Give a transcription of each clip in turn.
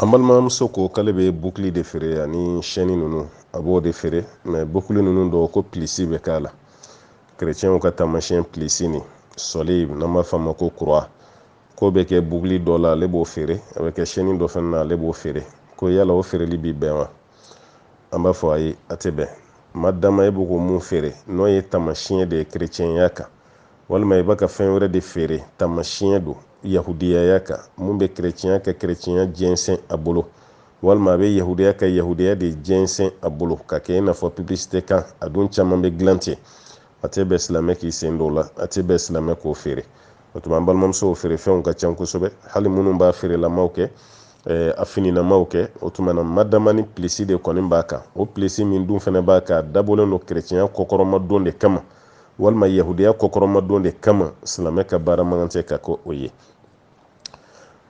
An balimamuso ko k'ale bɛ bukili de feere ani chaîne ninnu a b'o de feere mais bukili ninnu dɔw ko plisi bɛ k'a la kerecɛnw ka taamasiyɛn plisi nin sɔli n'an b'a f'a ma ko croix k'o bɛ kɛ bukili dɔ la ale b'o feere a bɛ kɛ chaîne dɔ fana na ale b'o feere ko yala o feereli bi bɛn wa an b'a fɔ ayi a tɛ bɛn madama e bɛ ko mun feere n'o ye taamasiyɛn de ye kerecɛnya kan walima i bɛ ka fɛn wɛrɛ de feere taamasiyɛn don yahudiyaya kan mun bɛ kerecɛnya ka kerecɛnya jɛnsɛn a bolo walima a bɛ yahudiya ka yahudiya de jɛnsɛn a bolo ka kɛ i n'a fɔ publicité kan a dun caman bɛ dilan ten a tɛ bɛn silamɛ k'i sen don o la a tɛ bɛn silamɛ k'o feere o tuma an balimamusow feerefɛnw ka ca kosɛbɛ hali minnu b'a feerelamaw kɛ eh, a fininamaw kɛ o tuma na madama ni pilisi de kɔni b'a kan o pilisi min dun fana b'a kan a dabɔlen don kerecɛnya kɔkɔrɔmadon de kama walima yahudiya kɔkɔrɔmadon de kama silamɛ ka baara man kan tɛ ka kɛ o ye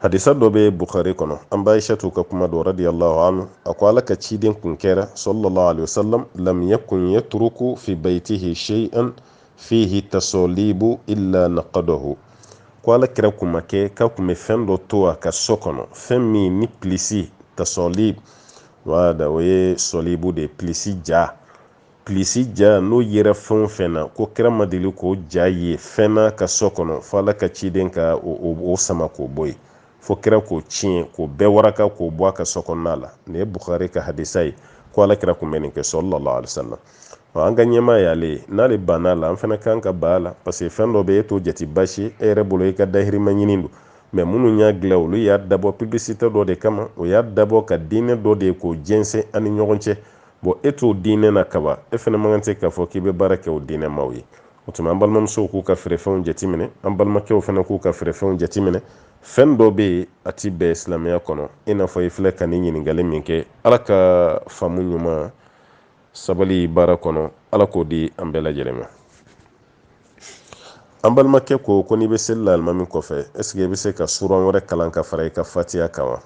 hadisa dɔ bɛ bukhari kɔnɔ an ba aishatu ka kuma dɔ radiyallahu anhu a ko ala ka ciden kun kɛra sallallahu alaihi wasallam lam yakun yatruku fi baytihi shay'an fihi tasalibu illa naqadahu ko ala kira kun ma kɛ k'a kun bɛ fɛn dɔ to a ka so kɔnɔ fɛn min ni pilisi tasalib wada o ye sɔlibu de ye pilisi ja pilisi ja n'o yera fɛn o fɛn na ko kira ma deli k'o ja ye fɛn na a ka so kɔnɔ fo ala ka ciden ka o sama k'o bɔ yen fo kira k'o tiɲɛ k'o bɛɛ waraka k'o bɔ a ka so kɔnɔna la nin ye bukhari ka hadisa ye ko ala kira kun bɛ nin kɛ sallallahu alaihi wasallam an ka ɲɛmaa y'ale ye n'ale banna a la an fana kan ka ban a la parce que fɛn dɔ bɛ e t'o jate basi e yɛrɛ bolo e ka dahirimɛ ɲini don mais minnu y'a dilan olu y'a dabɔ publicité dɔ de kama u y'a dabɔ ka diinɛ dɔ de ye k'o jɛnsɛn an ni ɲɔgɔn cɛ bon e t'o diinɛ na kaban e fana man kan tɛ k'a fɔ k'i bɛ baara kɛ o diinɛ maaw ye o tuma an balimamusow k'u ka feerefɛnw jateminɛ an balimakɛw fana k'u ka feerefɛnw jateminɛ fɛn dɔ bɛ yen a ti bɛn silamɛya kɔnɔ i n'a fɔ i filɛ ka nin ɲininkali min kɛ ala ka faamu ɲuman sabali baara kɔnɔ ala k'o di an bɛɛ lajɛlen ma an balimakɛ ko ko n'i bɛ seli la alimami kɔfɛ est-ce que i bɛ se ka suran wɛrɛ kalan ka fara i ka fatiya kan wa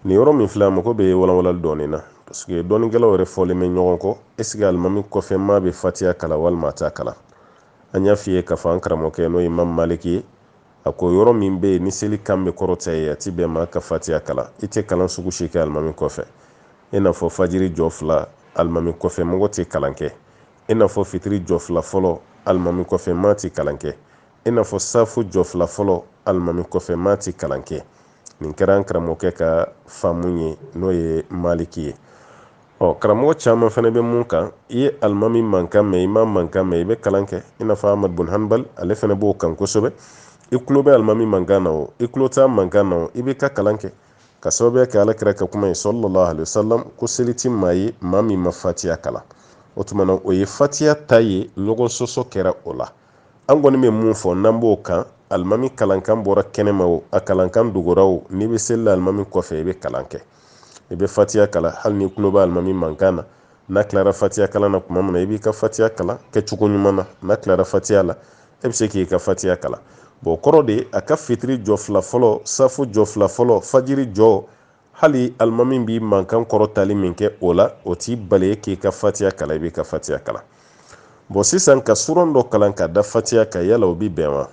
nin yɔrɔ min filɛ a mago bɛ walawalali dɔɔnin na parce que dɔnnikɛlaw yɛrɛ fɔlen bɛ ɲɔgɔn kɔ est-ce que alimami kɔfɛ maa bɛ fatiya kalan walima a t'a kalan an y'a f'i ye k'a fɔ an karamɔgɔkɛ n'o ye imamu maliki ye a ko yɔrɔ min bɛ yen ni seli kan bɛ kɔrɔta yen a ti bɛn maa ka fatiya kalan i tɛ kalan sugu si kɛ alimami kɔfɛ i n'a fɔ fajiri jɔ fila alimami kɔfɛ mɔgɔ tɛ kalan kɛ i n'a fɔ fitiri jɔ fila fɔlɔ alimami kɔfɛ maa tɛ kalan kɛ i n'a fɔ safu jɔ fila fɔlɔ alimami kɔfɛ maa tɛ kalan kɛ nin kɛra an karamɔgɔkɛ ka faamu ye n'o ye maliki ye ɔ karamɔgɔ caman fana bɛ mun kan i ye alimami mankan mɛn i ma mankan mɛn i bɛ kalan kɛ i n'a fɔ amadu bun hanbali ale fana b'o kan kosɛbɛ i tulo bɛ alimami mankan na o i tulo t'a mankan na o i bɛ ka kalan kɛ ka sababuya kɛ alakira ka kuma ye sallallahu alaihi wasallam ko seli ti maa ye maa min ma fatiya kalan o tuma na o ye fatiya ta ye ɲɔgɔn sɔsɔ kɛra o la an kɔni bɛ mun fɔ n'an b'o kan alimami kalankan bɔra kɛnɛma o a kalankan dogora o n'i bɛ seli la alimami kɔfɛ i bɛ kalan kɛ i bɛ fatiya kalan hali n'i tulo bɛ alimami mankan na n'a tilara fatiya kalan na tuma min na i b'i ka fatiya kalan kɛcogo ɲuman na n'a tilara fatiya la e bɛ se k'i ka fatiya kalan bon kɔrɔ de a ka fitiri jɔ fila fɔlɔ safu jɔ fila fɔlɔ fajiri jɔ hali alimami b'i mankan kɔrɔtali min kɛ o la o t'i bali k'i ka fatiya kalan i b'i ka fatiya kalan bon sisan ka suran dɔ kalan ka da fatiya kan yala o bi bɛn wa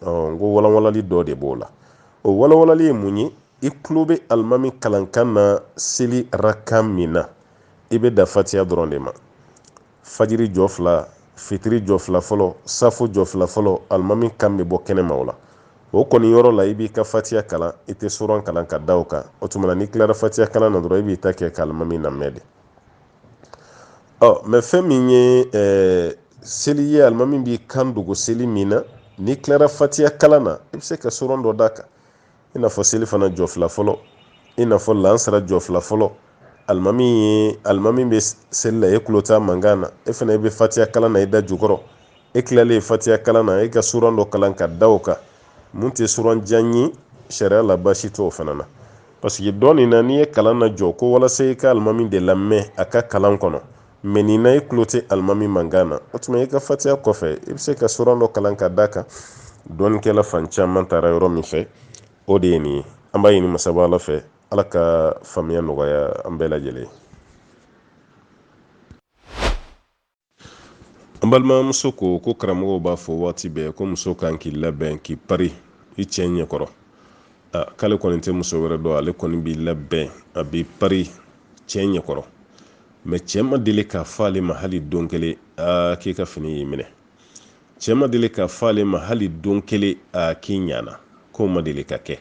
n ko walanwalali dɔ de b'o la o walanwalali ye mun ye i tulo bɛ alimami kalankan na seli rakan min na i bɛ dan fatiya dɔrɔn de ma fajiri jɔ fila fitiri jɔ fila fɔlɔ safu jɔ fila fɔlɔ alimami kan bɛ bɔ kɛnɛma o la o kɔni yɔrɔ la i b'i ka fatiya kalan i tɛ suran kalan ka da o kan o tuma na n'i tilara fatiya kalan na dɔrɔn i b'i ta kɛ ka alimami lamɛn de ɔ mais fɛn min ye ɛɛ seli ye alimami b'i kan dogo seli min na n'i tilara fatiya kalan na i bɛ se ka suran dɔ d'a kan i n'a fɔ selifana jɔ fila fɔlɔ i n'a fɔ lansara jɔ fila fɔlɔ alimami ye alimami bɛ seli la e tulo t'a mankan na e fana i bɛ fatiya kalan na i da jukɔrɔ e tilalen fatiya kalan na e ka suran dɔ kalan ka da o kan mun tɛ suran jan ye sariya la baasi t'o fana na parce que dɔ nin na n'i ye kalan lajɔ ko walasa i ka alimami de lamɛn a ka kalan kɔnɔ mais nin na i tulo tɛ alimami mankan na o tuma i ka fatiya kɔfɛ i bɛ se ka suran dɔ kalan ka d'a kan dɔnnikɛla fan caman taara yɔrɔ min fɛ o de ye nin ye an b'a ɲini masaba ala fɛ ala ka faamuya nɔgɔya an bɛɛ lajɛlen an balimamuso ko ko karamɔgɔw b'a fɔ waati bɛɛ ko muso kan k'i labɛn k'i pari i cɛ ɲɛkɔrɔ k'ale kɔni tɛ muso wɛrɛ dɔn ale kɔni b'i labɛn a b'i pari cɛ ɲɛkɔrɔ mais cɛ ma deli k'a fɔ ale ma hali don kelen aa k'i ka fini y'i minɛ cɛ ma deli k'a fɔ ale ma hali don kelen aa k'i ɲana k'o ma deli ka kɛ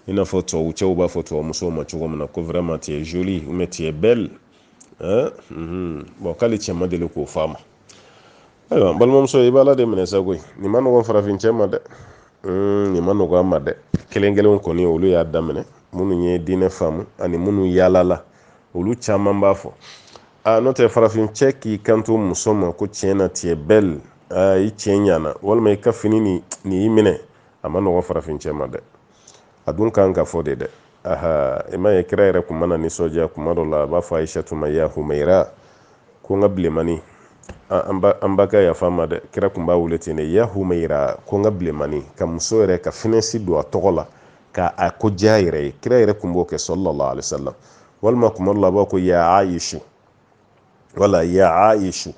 i n'a fɔ tubabu cɛw b'a fɔ tubabu musow ma cogo min na ko vraiment tu es jolie ou bien tu es belle hein? mm -hmm. bon k'ale cɛ ma deli k'o fɔ a ma ayiwa balimamuso i b'a la de minɛ sa koyi nin ma nɔgɔn farafin cɛ ma dɛ hmm, nin ma nɔgɔn a ma dɛ kelen kelen kɔni olu y'a daminɛ minnu ye diinɛ faamu ani minnu yaalala olu caman b'a fɔ a n'o tɛ farafin cɛ k'i kanto muso ma ko tiɲɛ na tu es belle i cɛ ɲana walima i ka fini nin y'i minɛ a ma nɔgɔn farafin cɛ ma dɛ a dun kan ka fɔ de dɛ aha i ma ye kira yɛrɛ kun mana nisɔndiya kuma dɔ la a b'a fɔ ayisatu ma ya humayira ko n ka bilemani an ba ka yafa ma dɛ kira kun b'a wele ten de ya humayira ko n ka bilemani ka muso yɛrɛ ka finɛsi don a tɔgɔ la ka a ko diya yɛrɛ ye kira yɛrɛ kun b'o kɛ sallallahu alaihi wasallam walima kuma dɔ la a b'a ko ya ayisu wala ya ayisu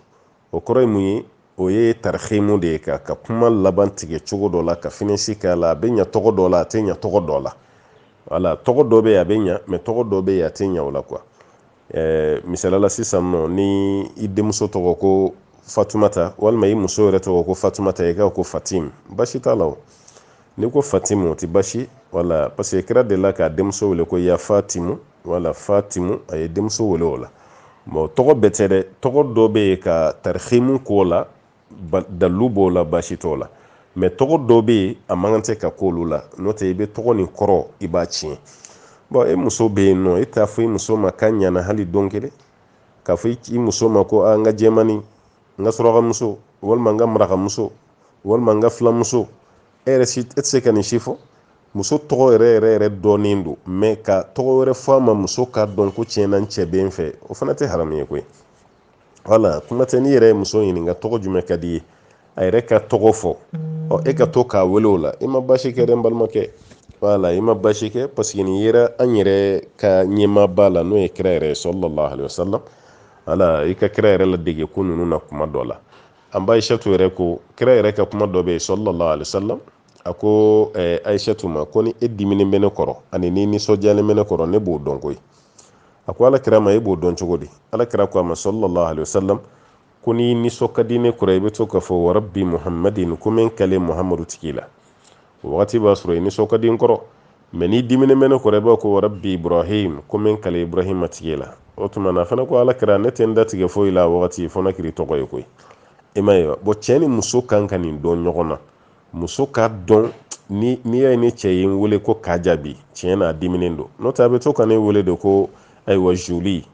o kɔrɔ ye mun ye o ye tarihimu de ye ka ka kuma laban tigɛ cogo dɔ la ka finɛsi k'a la a bɛ ɲa tɔgɔ dɔ la a tɛ ɲa tɔgɔ dɔ la wala tɔgɔ dɔ bɛ yen a bɛ ɲa mɛ tɔgɔ dɔ bɛ yen a tɛ ɲa o la quoi eh, misalala sisan nɔ ni i denmuso tɔgɔ ko fatumata walima i muso yɛrɛ tɔgɔ ko fatumata i ka ko fatim baasi t'a la o n'i ko fatimu o tɛ baasi wala parce que kira delila k'a denmuso wele ko ya fatimu wala fatimu a ye denmuso wele o la mɔgɔ tɔgɔ bɛɛ tɛ dɛ tɔgɔ dɔ bɛ yen ka tarihimu k'o la dalu b'o la baasi t'o la mɛ tɔgɔ dɔ bɛ yen a man kan tɛ ka k'olu la n'o tɛ i bɛ tɔgɔ nin kɔrɔ i b'a tiɲɛ bɔn e muso bɛ yen nɔ e t'a fɔ i muso ma k'a ɲana hali don kelen k'a fɔ i muso ma ko n ka jɛmani n ka surakamuso walima n ka marakamuso walima n ka filamuso e yɛrɛ si e tɛ se ka nin si fɔ muso tɔgɔ yɛrɛ yɛrɛ yɛrɛ dɔnnen don mɛ ka tɔgɔ wɛrɛ fɔ a ma muso k'a dɔn ko tiɲɛna n cɛ bɛ n fɛ o fana tɛ haramu ye koyi wala kuma tɛ n'i yɛrɛ ye muso ɲininka tɔgɔ jumɛn ka di ye a yɛrɛ ka tɔgɔ fɔ ɔ e ka to k'a wele o la i ma baasi kɛ dɛ n balimakɛ wala i ma baasi kɛ paseke nin yera an yɛrɛ ka ɲɛmaaba la n'o ye kira yɛrɛ ye sallallahu alaihi wasallam wala i ka kira yɛrɛ ladege ko ninnu na kuma dɔ la an ba aishatu yɛrɛ ko kira yɛrɛ ka kuma dɔ bɛ yen sallallahu alaihi wasallam a ko eh, aishatu ma ko ni e diminen bɛ ne kɔrɔ ani n'i nisɔndiyalen bɛ ne kɔrɔ ne b'o dɔn koyi a ko ala kira ma e b'o dɔn cogo di ala kira ko a ma sallallahu alaihi wasallam ko n'i nisɔn ka di ne kɔrɔ i bɛ to k'a fɔ wa rabbi muhammadin ko n bɛ n kale muhammadu tigi la o wagati b'a sɔrɔ i nisɔn ka di n kɔrɔ mɛ n'i diminen bɛ ne kɔrɔ i b'a ko wa rabbi ibrahim ko n bɛ n kale ibrahima tigi la o tuma na a fana ko ala kira ne tɛ n datigɛ foyi la a wagati fo n'a kɛr'i tɔgɔ ye koyi i ma ye bɔn cɛ ni muso kan ka nin dɔn ɲɔgɔn na muso k'a dɔn n'i y'a ye ne cɛ ye n wele ko k'a jaabi tiɲɛ na a diminen don n'o tɛ a bɛ to ka ne wele de ko ayiwa jolie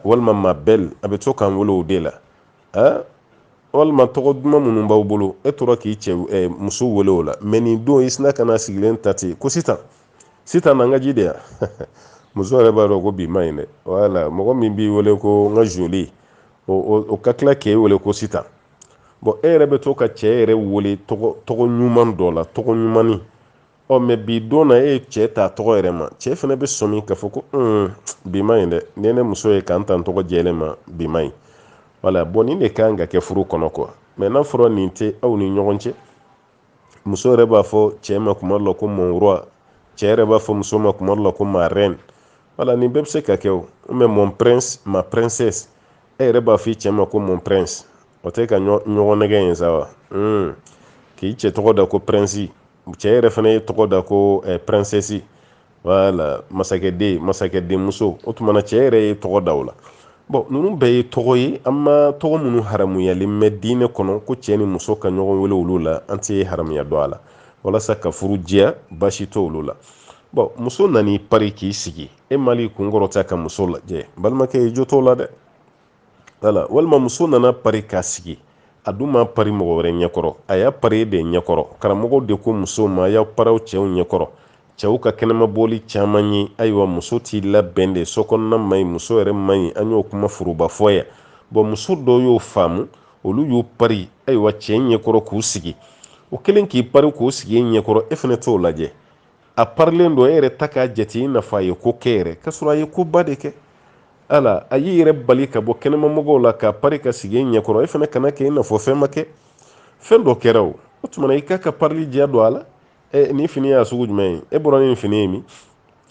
walima ma belle a bɛ to ka n wele o de la walima tɔgɔ duman minnu b'aw bolo e tora k'i cɛ muso wele o la mɛ nin don i sina ka na sigilen ta ten ko sitan sitan na n ka ji di yan muso yɛrɛ b'a dɔn ko bi ma ɲi dɛ wala mɔgɔ min b'i wele ko n ka jolie o ka tila k'e wele ko sitan bɔn e yɛrɛ bɛ to ka cɛ yɛrɛ wele tɔgɔ ɲuman dɔ la tɔgɔ ɲuman ɔ mɛ bi don na e ye cɛ ta tɔgɔ yɛrɛ ma cɛ fana bɛ sɔmi k'a fɔ ko bi ma ɲi dɛ ni ne muso ye ka n ta n tɔgɔ jɛlen ma bi ma ɲi wala bɔn nin de kan ka kɛ furu kɔnɔ quoi mɛ n'a fɔra nin tɛ aw ni ɲɔgɔn cɛ muso yɛrɛ b'a fɔ cɛ ma kuma la ko mon roi cɛ yɛrɛ b'a fɔ muso ma kuma la ko ma reine wala nin bɛɛ bɛ se ka kɛ o mɛ mon prince ma princesse e yɛrɛ b'a fɔ i cɛ ma ko mon prince o tɛ ka ɲɔgɔn nɛgɛn ye sa wa hmm. k'i cɛ tɔgɔ da ko prince cɛ yɛrɛ fana y'i tɔgɔ da ko eh, princesse wala masakɛden masakɛdenmuso o tuma na cɛ yɛrɛ y'i tɔgɔ da o la bɔn ninnu bɛɛ ye tɔgɔ ye an ma tɔgɔ minnu haramuyalen mɛ diinɛ kɔnɔ ko cɛ ni muso ka ɲɔgɔn wele olu la an tɛ haramuya don a la walasa ka furu diya basi t'olu la bɔn muso nan'i pari k'i sigi e ma i kun kɔrɔta ka muso lajɛ balimakɛ i jo t'o la dɛ wala walima muso nan'a pari k'a sigi a dun m'a pari mɔgɔ wɛrɛ ɲɛkɔrɔ a y'a pari e de ɲɛkɔrɔ karamɔgɔw de ko musow ma a y'aw pari aw cɛw ɲɛkɔrɔ cɛw ka kɛnɛma bɔli caman ye ayiwa muso t'i labɛn de sokɔnɔna man ɲi muso yɛrɛ man ɲi an y'o kuma foroba fɔ yan bɔn muso dɔw y'o faamu olu y'u pari ayiwa cɛ ɲɛkɔrɔ k'u sigi o kɛlen k'i pari k'i sigi e ɲɛkɔrɔ e fana t'o lajɛ a parilen don e yɛrɛ tɛ k'a jate i n'a fɔ a ye ko kɛ yɛrɛ k'a sɔrɔ a ye koba de kɛ ala a y'i yɛrɛ bali ka bɔ kɛnɛmamɔgɔw la k'a pari k'a sigi e ɲɛkɔrɔ e fana kana kɛ i n'a fɔ fɛn ma kɛ fɛn dɔ kɛra o o tuma i k'a ka parili diya don a la ɛ nin fini y'a sugu jumɛn ye e bɔra ni nin fini ye min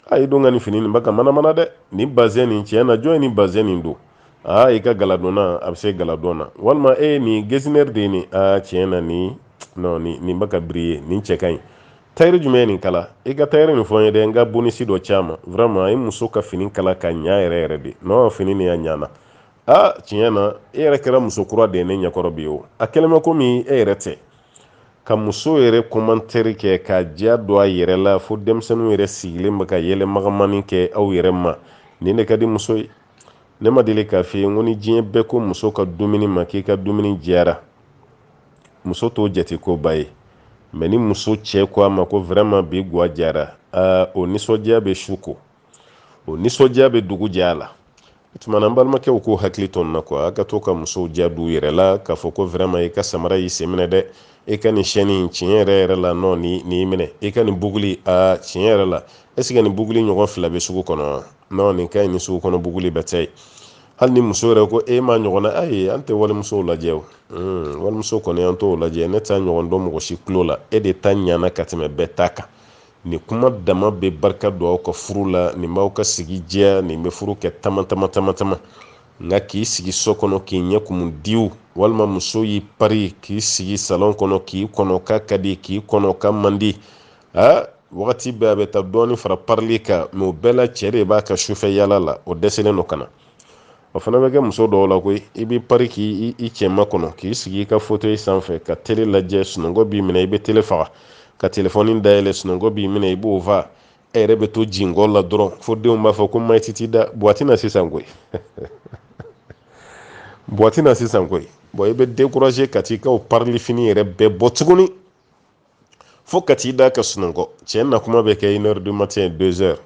a ye don ka nin fini nin ba ka manamana dɛ nin bazɛn nin tiɲɛ na jɔn ye nin bazɛn nin don aa i ka galadonna a bɛ se galadon na walima e nin getzner de ye nin aa tiɲɛ na nin non nin nin ba ka briller nin cɛ ka ɲi tayiri jumɛn ye nin kala i ka tayiri nin fɔ n ye dɛ n ka bonisi dɔ ci a ma vraiment a ye muso ka fini kala ka ɲa yɛrɛ yɛrɛ de nɔn fini nin y'a ɲana a tiɲɛ na e yɛrɛ kɛra muso kura de ye ne ɲɛkɔrɔ bi o a kɛlen bɛ komi e yɛrɛ tɛ ka muso yɛrɛ commentaire kɛ ka diya don a yɛrɛ la fo denmisɛnninw yɛrɛ sigilen bɛ ka yɛlɛ magamani kɛ aw yɛrɛ ma nin de ka di muso ye ne ma deli k'a f'i ye n ko ni diɲɛ bɛɛ ko muso ka dumuni ma k'i ka dumuni diyara muso t'o jate koba ye mɛ ni muso cɛ ko a ma ko vraiment bi gwa diyara o nisɔndiya bɛ su ko o nisɔndiya bɛ dugu jɛ a la o tuma an balimakɛw k'u hakili to nin na quoi a ka to ka musow diya d'u yɛrɛ la k'a fɔ ko vraiment i ka samara y'i sen minɛ dɛ e ka nin chaîne in tiɲɛ yɛrɛ yɛrɛ la nɔn nin y'i minɛ e ka nin buguli a tiɲɛ yɛrɛ la est-ce que nin buguli ɲɔgɔn fila bɛ sugu kɔnɔ non nin ka ɲi ni sugu kɔnɔ buguli bɛɛ tɛ hali ni muso yɛrɛ ko e ma ɲɔgɔn na ayi an tɛ walimusow lajɛ o walimuso kɔni an t'o lajɛ ne t'a ɲɔgɔn dɔn mɔgɔ si tulo la e de ta ɲana ka tɛmɛ bɛɛ ta kan nin kuma dama bɛ barika don aw ka furu la nin b'aw ka sigi diya nin bɛ furu kɛ tama tama tama tama nka k'i sigi so kɔnɔ k'i ɲɛ kumu diw walima muso y'i pari k'i sigi salon kɔnɔ k'i kɔnɔ k'a ka di k'i kɔnɔ k'a man di aa wagati bɛɛ a bɛ taa dɔɔni fara parili kan mɛ o bɛɛ la cɛ de b'a ka sufɛ yala la o dɛsɛlen don ka na o fana bɛ kɛ muso dɔw la koyi i b'i pari k'i cɛ makɔnɔ k'i sigi i ka fauteuil sanfɛ ka tele lajɛ sunɔgɔ b'i minɛ i bɛ tele faga ka telefɔni dayɛlɛ sunɔgɔ b'i minɛ i b'o fa e yɛrɛ bɛ to jingɔ la dɔrɔn fo denw b'a fɔ ko ma i tɛ t'i da buwa tɛ na sisan koyi buwa tɛ na sisan koyi bɔn i bɛ dekuraze ka t'i ka parili fini yɛrɛ bɛɛ bɔ tuguni fo ka t'i da ka sunɔgɔ cɛ na kuma bɛ kɛ une heure du matin deux heures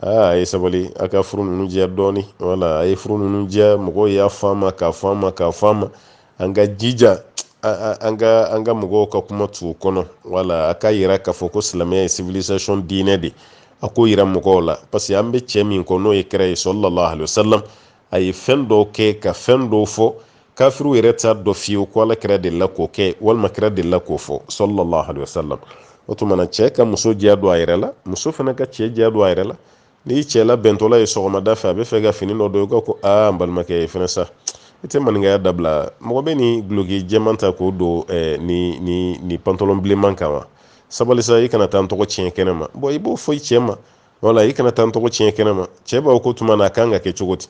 aa a ye sabali a ka furu ninnu diya dɔɔni wala a ye furu ninnu diya mɔgɔw y'a fɔ an ma k'a fɔ an ma k'a fɔ an ma an ka jija an ka an ka mɔgɔw ka kuma t'u kɔnɔ wala a ka yira k'a fɔ ko silamɛya ye civilisation diinɛ de a k'o yira mɔgɔw la parce que an bɛ cɛ min kɔ n'o ye kira ye sallallahu alaihi wasallam a ye fɛn dɔw kɛ ka fɛn dɔw fɔ kafiriw yɛrɛ t'a dɔn fiyewu ko ala kira delila k'o kɛ walima kira delila k'o fɔ sallallahu alaihi wasallam o tuma na cɛ ka muso diya don a yɛrɛ la muso fana ka cɛ diya don a yɛrɛ la n'i cɛ labɛntɔla ye sɔgɔmada fɛ a bɛ fɛ ka fini dɔ don i ka ko aa n balimakɛ e fɛnɛ sa i tɛ maninkaya dabila mɔgɔ bɛ nin duloki jɛman ta k'o don eh, ni ni ni pantɔlɔn bilenman kan wa sabali sa i kana taa n tɔgɔ tiɲɛ kɛnɛ ma bɔn i b'o fɔ i cɛ ma wala i kana taa n tɔgɔ tiɲɛ kɛnɛ ma cɛ b'a fɔ ko tuma na a kan ka kɛ cogo di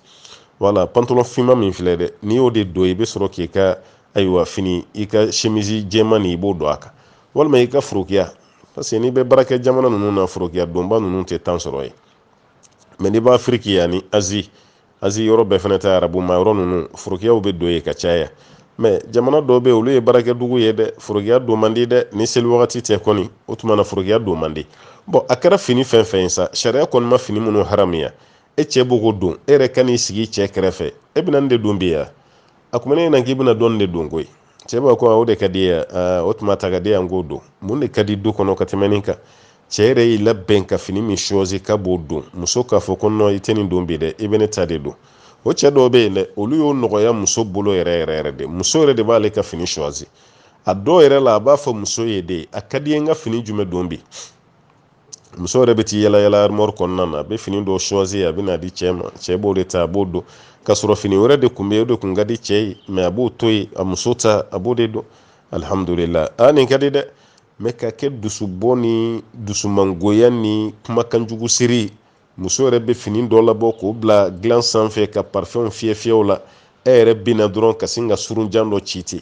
wala pantɔlɔn finman min filɛ dɛ n'i y'o de don i bɛ sɔrɔ k'i ka ayiwa fini i ka semisi jɛman nin i b'o don a kan walima i ka forokiya parce que n'i bɛ baarakɛ jamana ninnu na forokiya donba ninnu tɛ temps sɔrɔ yen mɛ n'i bɛ afiriki ani azi azi yɔrɔ bɛɛ fana tɛ arabu ma yɔrɔ ninnu forokiyaw bɛ don yen ka caya mɛ jamana dɔw bɛ olu ye baarakɛ dugu ye dɛ forokiya don man di dɛ ni seli wagati tɛ kɔni o tuma na forokiya don man di bɔn a kɛra fini fɛn fɛn ye sa sariya kɔni ma fini minnu haramuya e cɛ b'o ko don e yɛrɛ ka n'i sigi i cɛ kɛrɛfɛ e bɛna nin de don bi ya a kuma ne ɲɛna k'i bɛna dɔ nin de don koyi cɛ b'a ko o de ka di i ye o tuma a ta k'a di yan k'o don mun de ka di du kɔnɔ ka tɛmɛ nin kan cɛ yɛrɛ y'i labɛn ka fini min choisi k'a b'o don muso k'a fɔ ko non i tɛ nin don bi dɛ i bɛ ne ta de don o cɛ dɔw bɛ yen dɛ olu y'o nɔgɔya muso bolo yɛrɛ yɛrɛ yɛrɛ de muso yɛrɛ de b'ale ka fini choisi a dɔw yɛrɛ la a b'a fɔ muso ye de a ka di i ye n ka fini jumɛn don bi muso yɛrɛ bɛ t'i yala yala armoire kɔnɔna na a bɛ fini dɔ choisi a bɛ n'a di cɛ ma cɛ b'o de ta a b'o don ka sɔrɔ fini wɛrɛ de kun bɛ o de kun ka di cɛ ye mɛ a b'o to yen a muso ta a b'o de don alihamudulilayi a nin ka di dɛ mɛ ka kɛ dusubɔ ni dusumangoya ni kumakanjugu siri muso yɛrɛ bɛ fini dɔ labɔ k'o bila dilan sanfɛ ka parfɛnw fiyɛ fiyɛ u la e yɛrɛ bɛ na dɔrɔn ka sin ka surun jan dɔ ci ten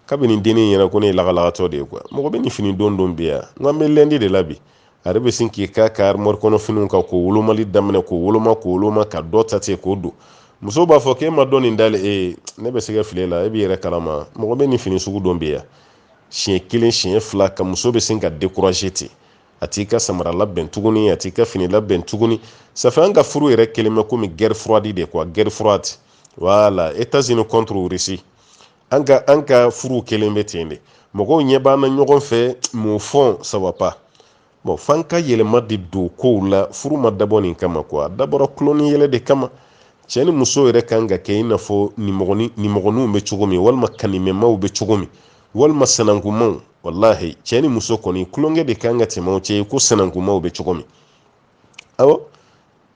kabini dennin yɛrɛ ko ne ye lagalagatɔ de ye quoi mɔgɔ bɛ nin fini don don bi yan n k'an bɛ lundi de la bi a yɛrɛ bɛ sin k'i k'a ka armoire kɔnɔ finiw kan k'o wolomali daminɛ k'o woloma k'o woloma ka dɔ ta ten k'o don muso b'a fɔ k'e m'a dɔn nin dalen e ne bɛ se ka fili la e b'i yɛrɛ kalama mɔgɔ bɛ nin fini sugu don bi yan siɲɛ kelen siɲɛ fila ka muso bɛ sin ka décourager ten a t'i ka samara labɛn tuguni a t'i ka fini labɛn tuguni ça fait an ka furu yɛrɛ kɛlen bɛ komi guerre froide de quoi guerre froide voilà États-Unis contre Russie an ka an ka furu kɛlen bɛ ten de mɔgɔw ɲɛ b'an na ɲɔgɔn fɛ mais au fond ça va pas bon f'an ka yɛlɛma de don kow la furu ma dabɔ nin kama quoi a dabɔra tulon ni yɛlɛ de kama cɛ ni muso yɛrɛ kan ka kɛ i n'a fɔ nimɔgɔninw bɛ cogo min walima kanimɛmaw bɛ cogo min walima sanankunmaw walahi cɛ ni muso kɔni tulonkɛ de kan ka tɛmɛ o cɛ ye ko sanankunmaw bɛ cogo min awɔ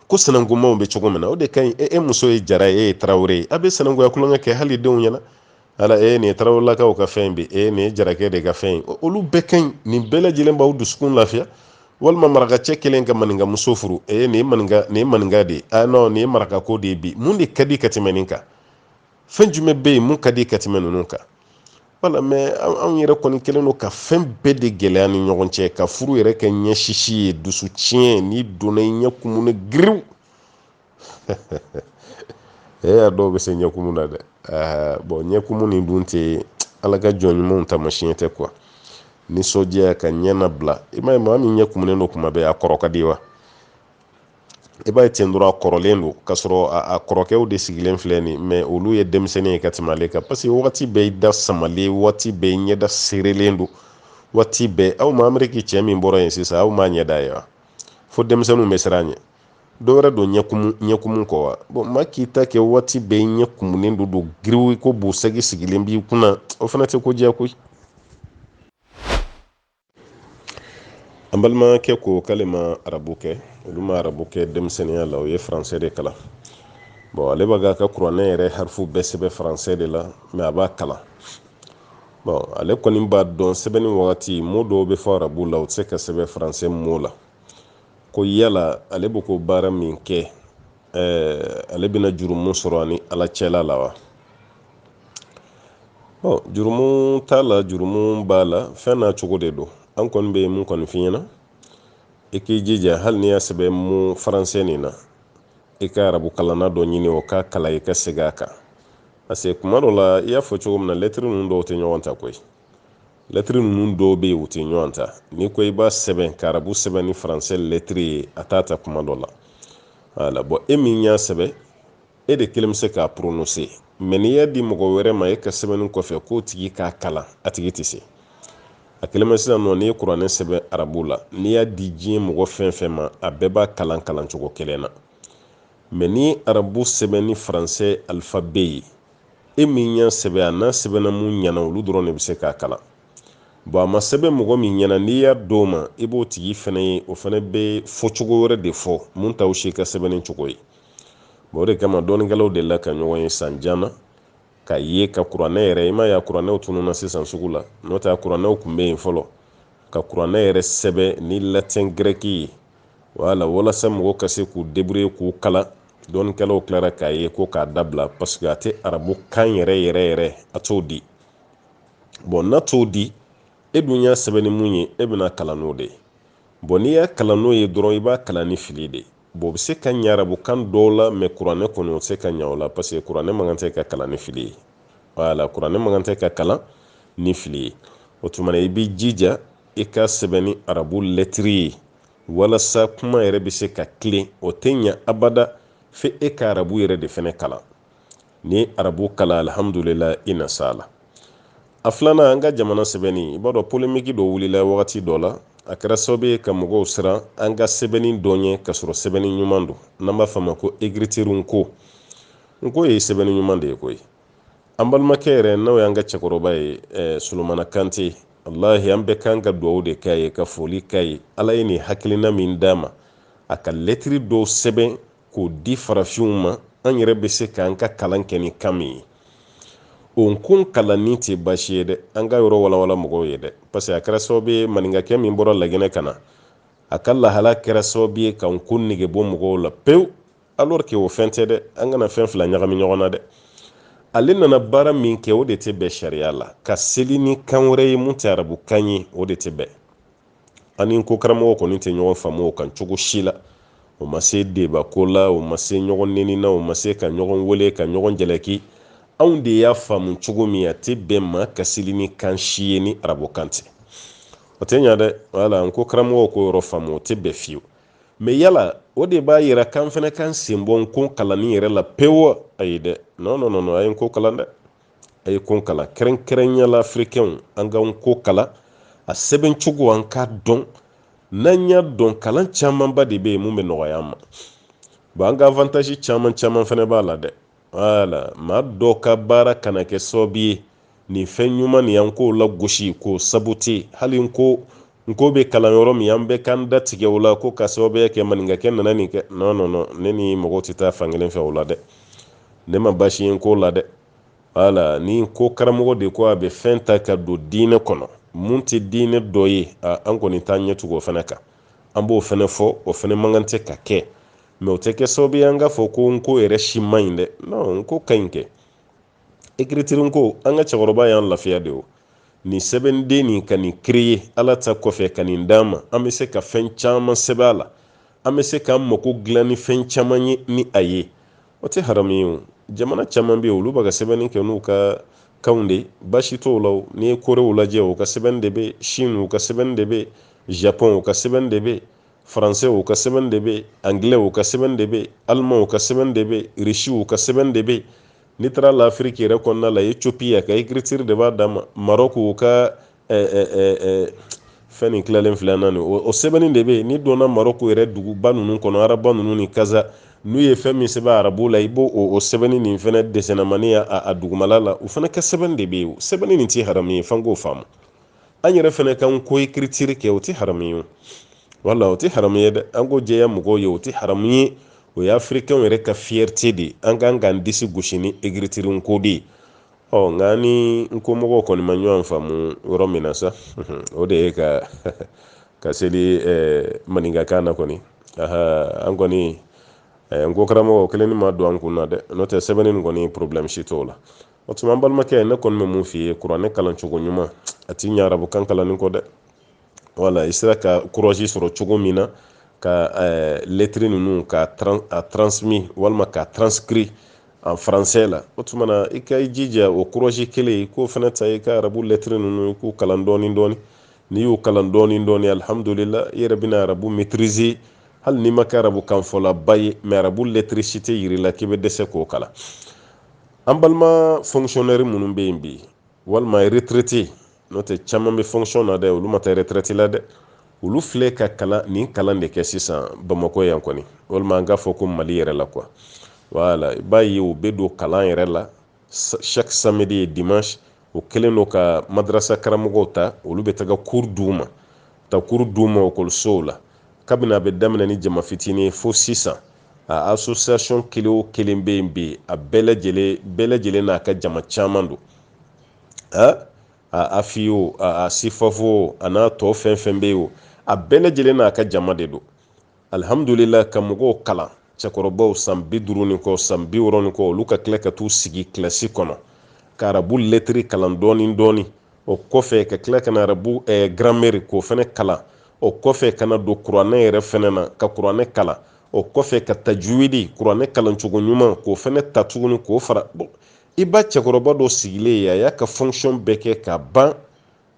ko sanankunmaw bɛ cogo min na o de ka ɲi e, e muso ye jara ye e ye tarawele ye a bɛ sanankunya tulonkɛ kɛ hali denw ɲɛna ala e nin ye tarawelelakaw ka fɛn bɛ e nin ye jarakɛ de ka fɛn ye olu bɛɛ ka ɲi nin bɛɛ lajɛlen b'aw dusukun lafiya walima marakacɛ kelen ka maninka muso furu e nin ye maninka nin ye maninka de ye ah non nin ye marakako de ye bi mun de ka di ka tɛmɛ nin kan fɛn jumɛn bɛ yen mun ka di ka tɛmɛ ninnu kan voilà mais anw yɛrɛ kɔni kɛlen don ka fɛn bɛɛ de gɛlɛya ni ɲɔgɔn cɛ ka furu yɛrɛ kɛ ɲɛ sisi ye dusu tiɲɛ n'i donna i ɲɛ kumunen giriw e a dɔw bɛ se ɲɛkumu na dɛ bon ɲɛkumu nin dun tɛ ala ka jɔn ɲumanw taamasiyɛn tɛ quoi nisɔndiya ka ɲɛ labila i m'a ye maa min ɲɛ kumunen don kuma bɛɛ a kɔrɔ ka di wa i b'a ye ten dɔrɔn a kɔrɔlen don k'a sɔrɔ a kɔrɔkɛw de sigilen filɛ nin mais olu ye denmisɛnnin ye ka tɛmɛ ale kan parce que wagati bɛɛ i da samalen wagati bɛɛ i ɲɛda seerelen don wagati bɛɛ aw ma ameriki cɛ min bɔra yen sisan aw m'a ɲɛda ye wa fo denmisɛnninw bɛ siran a ɲɛ dɔ wɛrɛ don ɲɛkumu kɔ wa bon maa k'i ta kɛ wagati bɛɛ i ɲɛ kumunen don don giriw ko bo segi sigilen b'i kunna o fana tɛ ko diya koyi an balimakɛ ko k'ale ma arabu kɛ olu ma arabu kɛ denmisɛnninya la o ye faransɛ de kalan bon ale b'a ka kuranɛ yɛrɛ harifu bɛɛ sɛbɛn faransɛ de la mais a b'a kalan bon ale kɔni b'a dɔn sɛbɛnni wagati mot dɔw bɛ fɔ arabu la u tɛ se ka sɛbɛn faransɛ mot la ko yala ale bɛ ko baara min kɛ ale bɛna jurumu sɔrɔ a ni ala cɛla la wa ɔ jurumu t'a la jurumu b'a la fɛn n'a cogo de don an kɔni bɛ mun kɔni f'i ɲɛna i k'i jija hali n'i y'a sɛbɛn mot faransɛ nin na i ka arabu kalanna dɔ ɲini o k'a kalan i ka segin a kan parce que kuma dɔ la i y'a fɔ cogo min na lɛtiri ninnu dɔw tɛ ɲɔgɔn ta koyi lɛtiri ninnu dɔw bɛ yen u tɛ ɲɔgɔn ta n'i ko i b'a sɛbɛn ka arabu sɛbɛn ni faransɛ lɛtiri ye a t'a ta kuma dɔ la wala bɔn e min y'a sɛbɛn e de kelen bɛ se k'a poronose mɛ n'i y'a di mɔgɔ wɛrɛ ma e ka sɛbɛnni kɔfɛ k'o tigi k'a kalan a tigi tɛ se a kelen bɛ sisan nɔ n'i ye kuranɛ sɛbɛn arabu la n'i y'a di diɲɛ mɔgɔ fɛn fɛn ma a bɛɛ b'a kalan kalan cogo kelen na mɛ ni arabu sɛbɛn ni faransɛ alifabe ye e min y'a sɛbɛn a n'a sɛbɛnna mun ɲɛna olu dɔrɔn de bɛ se k'a kalan bɔn a ma sɛbɛn mɔgɔ min ɲɛna n'i y'a d'o ma i b'o tigi fana ye o fana bɛ fɔcogo wɛrɛ de fɔ mun t'aw si ka sɛbɛnni cogo ye bɔn o de kama dɔnnikɛlaw delila ka ɲɔgɔn ye san jan na k'a ye ka kuranɛ yɛrɛ i m'a ye a kuranɛw tununna sisan sugu la n'o tɛ a kuranɛw tun bɛ yen fɔlɔ ka kuranɛ yɛrɛ sɛbɛn ni latin grɛki ye wala walasa mɔgɔ ka se k'u debrouiller k'u kalan dɔnnikɛlaw tilara k'a ye ko k'a dabila paseke a tɛ arabu kan yɛrɛ yɛrɛ yɛrɛ a t'o di bɔn n'a t'o di e dun y'a sɛbɛn ni mun ye e bɛn'a kalan n'o de ye bɔn n'i y'a kalan n'o ye dɔrɔn i b'a kalan ni fili de ye bɔn o bɛ se ka ɲɛ arabu kan dɔw la mɛ kuranɛ kɔni o tɛ se ka ɲɛ o la paseke kuranɛ man kan tɛ ka kalan ni fili ye wala kuranɛ man kan tɛ ka kalan ni fili ye o tuma i b'i jija i k'a sɛbɛn ni arabu lɛtiri ye walasa kuma yɛrɛ bɛ se ka tilen o tɛ ɲɛ abada fo e ka arabu yɛrɛ de fɛnɛ kalan n'i ye arabu kalan alihamudulila i na s'a la a filanan an ka jamana sɛbɛnni i b'a dɔn polemiki dɔ wulila wagati dɔ la a kɛra sababu ye ka mɔgɔw siran an ka sɛbɛnni dɔ ɲɛ ka sɔrɔ sɛbɛnni ɲuman don n'an b'a fɔ a ma ko ekiritiri nko nko ye sɛbɛnni ɲuman de ye koyi an balimakɛ yɛrɛ n'o y'an ka cɛkɔrɔba ye eh, solomana kante wallahi an bɛɛ kan ka dugawu de k'a ye ka foli k'a ye ala ye nin hakilina min d'a ma a ka lɛtiri dɔw sɛbɛn k'o di farafinw ma an yɛrɛ bɛ se k'an ka kalan kɛ ni kan min ye o nko kalanni tɛ baasi ye dɛ an k'a yɔrɔ walawala mɔgɔw ye dɛ parce que a kɛra sababu ye maninkakɛ min bɔra laginɛ ka na a ka lahala kɛra sababu ye ka nko nege bɔ mɔgɔw la pewu alors que o fɛn tɛ dɛ an kana fɛn fila ɲagami ɲɔgɔn na dɛ ale nana baara min kɛ o de tɛ bɛn sariya la ka seli ni kan wɛrɛ ye mun tɛ arabu kan ye o de tɛ bɛn an ni nko karamɔgɔw kɔni tɛ ɲɔgɔn faamu o kan cogo si la o ma se deba ko la o ma se ɲɔgɔn neni na o ma se ka ɲɔgɔn wele ka ɲɔgɔn jalaki anw de y'a faamu cogo min a tɛ bɛn maa ka seli ni kan si ye ni arabu kan tɛ o tɛ ɲa dɛ wala nko karamɔgɔw k'o yɔrɔ faamu o tɛ bɛn fiyewu mɛ yala o de b'a yira k'an fana k'an sen bɔ nko kalanni yɛrɛ la pewu ayi dɛ nɔn nɔn nɔn a ye nko kalan dɛ a ye nko kalan kɛrɛnkɛrɛnya la afirikɛnw an ka nko kalan a sɛbɛn cogo an k'a dɔn n'an y'a dɔn kalan camanba de bɛ yen mun bɛ nɔgɔya an ma bon an ka avantaji caman caman fana b'a la dɛ voilà maa dɔ ka baara kana kɛ sababu ye nin fɛn ɲuman nin an k'o la gosi k'o saboter hali n ko bɛ kalan yɔrɔ min an bɛ k'an da tigɛ o la ko ka sababuya kɛ maninkakɛ nana nin kɛ non non non ne ni mɔgɔw tɛ taa fan kelen fɛ o la dɛ ne ma baasi ye n ko la dɛ voilà ni n ko karamɔgɔ de ko a bɛ fɛn ta ka don diinɛ kɔnɔ mun tɛ diinɛ dɔ ye an kɔni t'an ɲɛ tugu o fana kan an b'o fana fɔ o fana man kan tɛ ka kɛ mais o tɛ kɛ sababu ye an k'a fɔ ko n ko yɛrɛ si man ɲi dɛ non n ko ka ɲi kɛ écriture ko an ka cɛkɔrɔba y'an lafiya de o nin sɛbɛnden nin ka nin créer ala ta kɔfɛ ka nin d'an ma an bɛ se ka fɛn caman sɛbɛn a la an bɛ se k'an mako dilan ni fɛn caman ye ni a ye o tɛ haramu ye o jamana caman bɛ yen olu bɛ ka sɛbɛnni kɛ n'u ka kanw de baasi t'o la n'i ye korew lajɛ u ka sɛbɛnni de bɛ yen chine u ka sɛbɛnni de bɛ yen japon u ka sɛbɛnni de bɛ yen français u ka sɛbɛn de bɛ anglais u ka sɛbɛn de bɛ allemand u ka sɛbɛn de bɛ russe u ka sɛbɛn de bɛ n'i taara l'afrique yɛrɛ kɔnɔna la ethiopie a ka écriture de b'a dan ma maroc u ka fɛn nin tilalen filɛ na nin o sɛbɛnni de bɛ n'i donna maroc yɛrɛ duguba ninnu kɔnɔ rabat ninnu ni casa n'u ye fɛn min sɛbɛn arabu la i b'o o sɛbɛnni nin fana deuxièmement a dugumala la u fana ka sɛbɛn de bɛ yen sɛbɛnni nin tɛ haramu ye f'an k'o faamu an yɛrɛ fɛnɛ kan ko écriture kɛ o tɛ haramu ye voilà o tɛ haramu ye dɛ an k'o jɛya mɔgɔw ye o tɛ haramu ye o ye africainw yɛrɛ ka fierté de ye an kan k'an disi gosi ni écriture ko de ye ɔ nka ni n ko mɔgɔw kɔni ma ɲɔgɔn faamu yɔrɔ min na sa o de ye k'an ka seli maninkakan na kɔni an kɔni n ko karamɔgɔ kelen ni ma don an kun na dɛ n'o tɛ sɛbɛnni nin kɔni problème si t'o la o tuma an balimakɛ ne kɔni bɛ mun f'i ye kuranɛ kalan cogo ɲuman a tɛ ɲɛ arabukan kalanni kɔ dɛ voilà i sera ka courage sɔrɔ cogo min na ka eh, lettre ninnu ka a transmis walima ka transcrit en français la o tuma na i ka i jija o courage kelen i k'o fana ta i ka arabu lettre ninnu i k'u kalan dɔɔni dɔɔni n'i y'u kalan dɔɔni dɔɔni alhamdulila i yɛrɛ bɛna arabu maîtriser hali n'i ma kɛ arabukanfɔlaba ye mais arabu lettre si tɛ yir'i la k'i bɛ dɛsɛ k'o kalan an balima fonctionnaire minnu bɛ yen bi walima retraité n'o tɛ caman bɛ fonction na dɛ olu ma taa retraite la dɛ olu filɛ ka kalan nin kalan de kɛ sisan bamakɔ yan kɔni walima an k'a fɔ ko mali yɛrɛ la quoi voilà i b'a ye u bɛ don kalan yɛrɛ la chaque samedi et dimanche u kɛlen don ka madrasa karamɔgɔw ta olu bɛ taga cours d'u ma taa cours d'u ma ekɔlisow la kabini a bɛ daminɛ ni jama fitini ye fo sisan a association kelen o kelen bɛ yen bi a bɛɛ lajɛlen bɛɛ lajɛlen n'a ka jama caman don a a afi o a sifafo o a n'a tɔ fɛn fɛn bɛ yen o a bɛɛ lajɛlen n'a ka jama de don alihamudulila ka mɔgɔw kalan cɛkɔrɔbaw san bi duuru ni kɔ san bi wɔɔrɔ ni kɔ olu ka tila ka t'u sigi kilasi kɔnɔ ka arabu lɛtiri kalan dɔɔni dɔɔni o kɔfɛ ka tila ka na arabu eh, gramɛri k'o fana kalan o kɔfɛ ka na don kuranɛ yɛrɛ fana na ka kuranɛ kalan o kɔfɛ ka tajuwidi kuranɛ kalancogo ɲuman k'o fana ta tuguni k'o fara bɔn i b'a cɛkɔrɔba dɔ sigilen ye a y'a ka fonction bɛɛ kɛ ka ban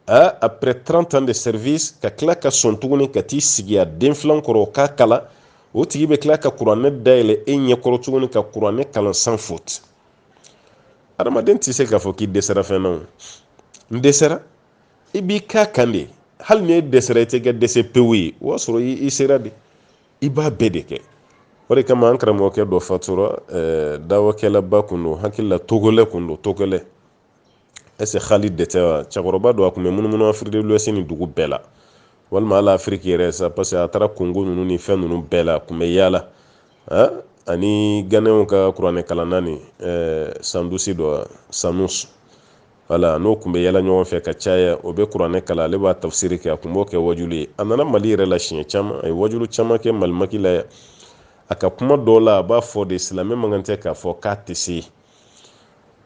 a après 30 ans de service ka tila ka sɔn tuguni ka t'i sigi a den filan kɔrɔ o k'a kalan o tigi bɛ tila ka kuranɛ dayɛlɛ e ɲɛkɔrɔ tuguni ka kuranɛ kalan sans faute adamaden tɛ se k'a fɔ k'i dɛsɛra fɛn na o n dɛsɛra i b'i k'a kan de hali ni e dɛsɛra i tɛ kɛ dɛsɛ pewu ye o y'a sɔrɔ i sera de i b'a bɛɛ de kɛ o de kama an karamɔgɔkɛ dɔ fatura dawakɛlaba kun don hakili la togolɛ kun don togolɛ est-ce que halidi tɛ wa cɛkɔrɔba don a kun bɛ munumunu afiriki de l'ouest ni dugu bɛɛ la walima hali afiriki yɛrɛ sa parce que a taara kongo ninnu ni fɛn ninnu bɛɛ la a kun bɛ yaala ani ganɛnw ka kuranɛ kalanna ni sandusi dɔ sanus wala n'o kun bɛ yaala ɲɔgɔn fɛ ka caya o bɛ kuranɛ kalan ale b'a tafsiri kɛ a kun b'o kɛ wajulu ye a nana mali yɛrɛ la siɲɛ caman a ye wajulu caman kɛ malimaki la a ka kuma dɔw la a b'a fɔ de silamɛ man kan tɛ k'a fɔ k'a tɛ se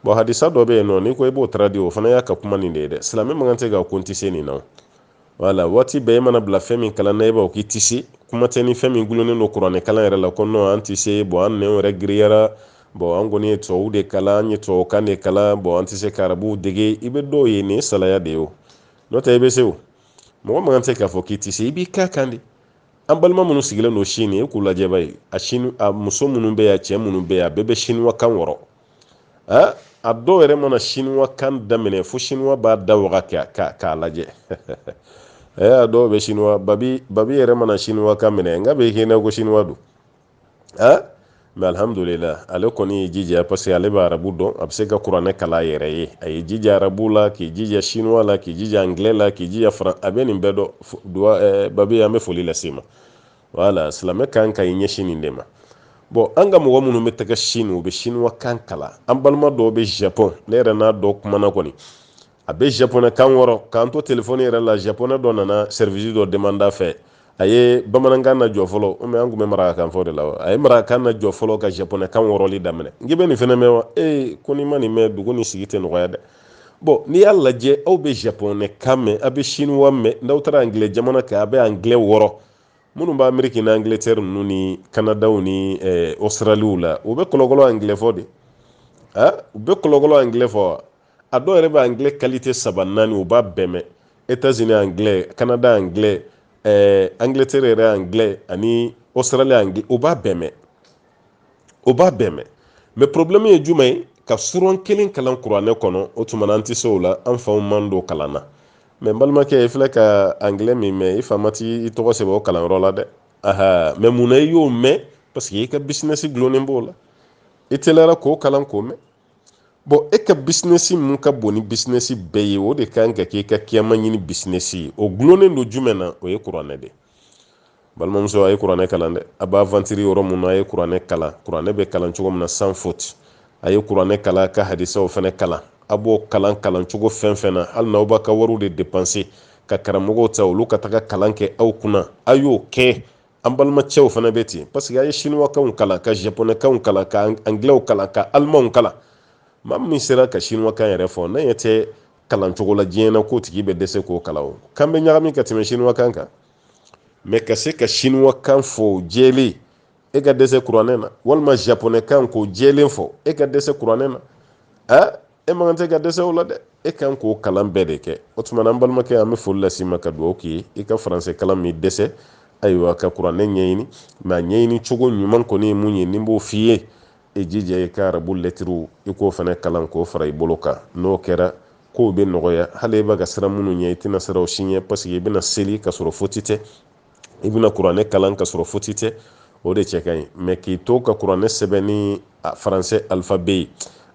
bɔn hadisa dɔ bɛ yen nɔ n'i ko i b'o traduit o fana y'a ka kuma nin de ye dɛ silamɛ man kan tɛ ka ko n tɛ se nin na wala waati bɛɛ i mana bila fɛn min kalan na i b'a k'i tɛ se kuma tɛ ni fɛn min gulonnen don kuranɛ kalan yɛrɛ la ko nɔn an tɛ se bɔn an nɛn yɛrɛ giriyara bɔn an kɔni ye tubabu de kalan an ye tubabukan de kalan bɔn an tɛ se ka arabu dege i bɛ dɔw ye nin ye salaya de ye o n'o tɛ i bɛ se o mɔgɔ man kan tɛ k'a fɔ k'i tɛ se i b'i k'a kan de an balima minnu sigilen don sini e k'u lajɛ bani a muso minnu bɛ yan cɛ minnu bɛ yan a bɛɛ bɛ siniwa kan wɔrɔ a dɔw yɛrɛ mana siniwa kan daminɛ fo siniwa b'a da waga k'a lajɛ a dɔw bɛ siniwa babi babi yɛrɛ mana siniwa kan minɛ n k'a bɛ k'i na ko siniwa don aa mɛ alihamudulila ale kɔni y'i jija parce que ale bɛ arabu dɔn a bɛ se ka kuranɛ kalan a yɛrɛ ye a y'i jija arabu la k'i jija sinuwa la k'i jija angilɛ la k'i jija faran a bɛ nin bɛɛ dɔn duwa eh, babi an bɛ foli lase i ma wala silamɛ kan ka i ɲɛsin nin de ma bɔn an ka mɔgɔ minnu bɛ taga sini u bɛ sinuwa kan kalan an balima dɔw bɛ japɔn ne yɛrɛ n'a dɔ kumana kɔni a bɛ japonɛ kan wɔrɔ k'an to telefɔni yɛrɛ la japonɛ dɔ nana sɛrivisi dɔ demande a fɛ a ye bamanankan na jɔ fɔlɔ u an tun bɛ marakakan fɔ de la a ye marakakan na jɔ fɔlɔ ka japonɛ kan wɔrɔli daminɛ n k'i bɛ nin fana mɛn wa ee ko n'i ma nin mɛn dugu ni sigi tɛ nɔgɔya dɛ bɔn n'i y'a lajɛ aw bɛ japonɛ kan mɛn aw bɛ siniwa mɛn n'aw taara angilɛ jamana kan a bɛ angilɛ wɔrɔ minnu bɛ ameriki ni angiletɛri ninnu ni kanadaw ni ɔsitaraliw la u bɛ kɔlɔkɔlɔ angilɛ fɔ de u bɛ kɔlɔkɔlɔ angilɛ fɔ wa a dɔw yɛrɛ bɛ anglais qualité saba naani u b'a bɛɛ mɛn États-Unis anglais Canada anglais eh, Angleterre yɛrɛ anglais ani Australie anglais u b'a bɛɛ mɛn o b'a bɛɛ mɛn mɛ problème ye jumɛn ye ka suran kelen kalan kuranɛ kɔnɔ o tuma na an tɛ se o la an faw m'an don kalan na mɛ n balimakɛ i filɛ ka anglais min mɛn i fa ma t'i tɔgɔ sɛbɛn o kalanyɔrɔ la dɛ aha mɛ mun na i y'o mɛn parce que i ka bisinɛsi dulonnen b'o la i teliyara k'o kalan k'o mɛn bɔn e ka bisinɛsi min ka bon ni bisinɛsi bɛɛ ye o de ka kan ka k'i ka kiyama ɲini bisinɛsi ye o dulonnen don jumɛn na o ye kuranɛ de balimamuso a ye kuranɛ kalan dɛ a b'aventure yɔrɔ min a ye kuranɛ kalan kuranɛ bɛ kalan cogo min na san foti a ye kuranɛ kalan ka hadisaw fana kalan a b'o kalan kalan cogo fɛn fɛn na hali n'aw b'a ka wariw de depanse ka karamɔgɔw ta olu ka taga kalan kɛ aw kunna a y'o kɛ an balimacɛw fana bɛ ten parce que an ye sinuwakanw kalan ka japonɛkanw kalan ka angilɛw kalan ka alimanw kalan maa min sera ka sinuwakan yɛrɛ fɔ ne ɲɛ tɛ kalan cogo la diɲɛ na k'o tigi bɛ dɛsɛ k'o kalan o kan bɛ ɲagami ka tɛmɛ sinuwakan kan mɛ ka se ka sinuwakan fɔ jɛlen e ka dɛsɛ kuranɛ na walima japonɛkan k'o jɛlen fɔ e ka dɛsɛ kuranɛ na a e man tɛ ka dɛsɛ o la dɛ e kan k'o kalan bɛɛ de kɛ o tuma na an balimakɛ an bɛ foli lase i ma ka dugawu k'i ye i ka faransɛ kalan min dɛsɛ ayiwa ka kuranɛ ɲɛɲini mɛ a ɲɛɲini cogo ɲuman kɔni ye mun ye ni n b'o f'i ye i jija i ka arabu lɛtiriw i k'o fana kalan k'o fara i bolo kan n'o kɛra kow bɛ nɔgɔya hali i bɛ ka siran minnu ɲɛ i tɛna siran u si ɲɛ paseke i bɛna seli ka sɔrɔ foti tɛ i bɛna kuranɛ kalan ka sɔrɔ foti tɛ o de cɛ ka ɲi mɛ k'i to ka kuranɛ sɛbɛn ni faransɛ alifabɛ ye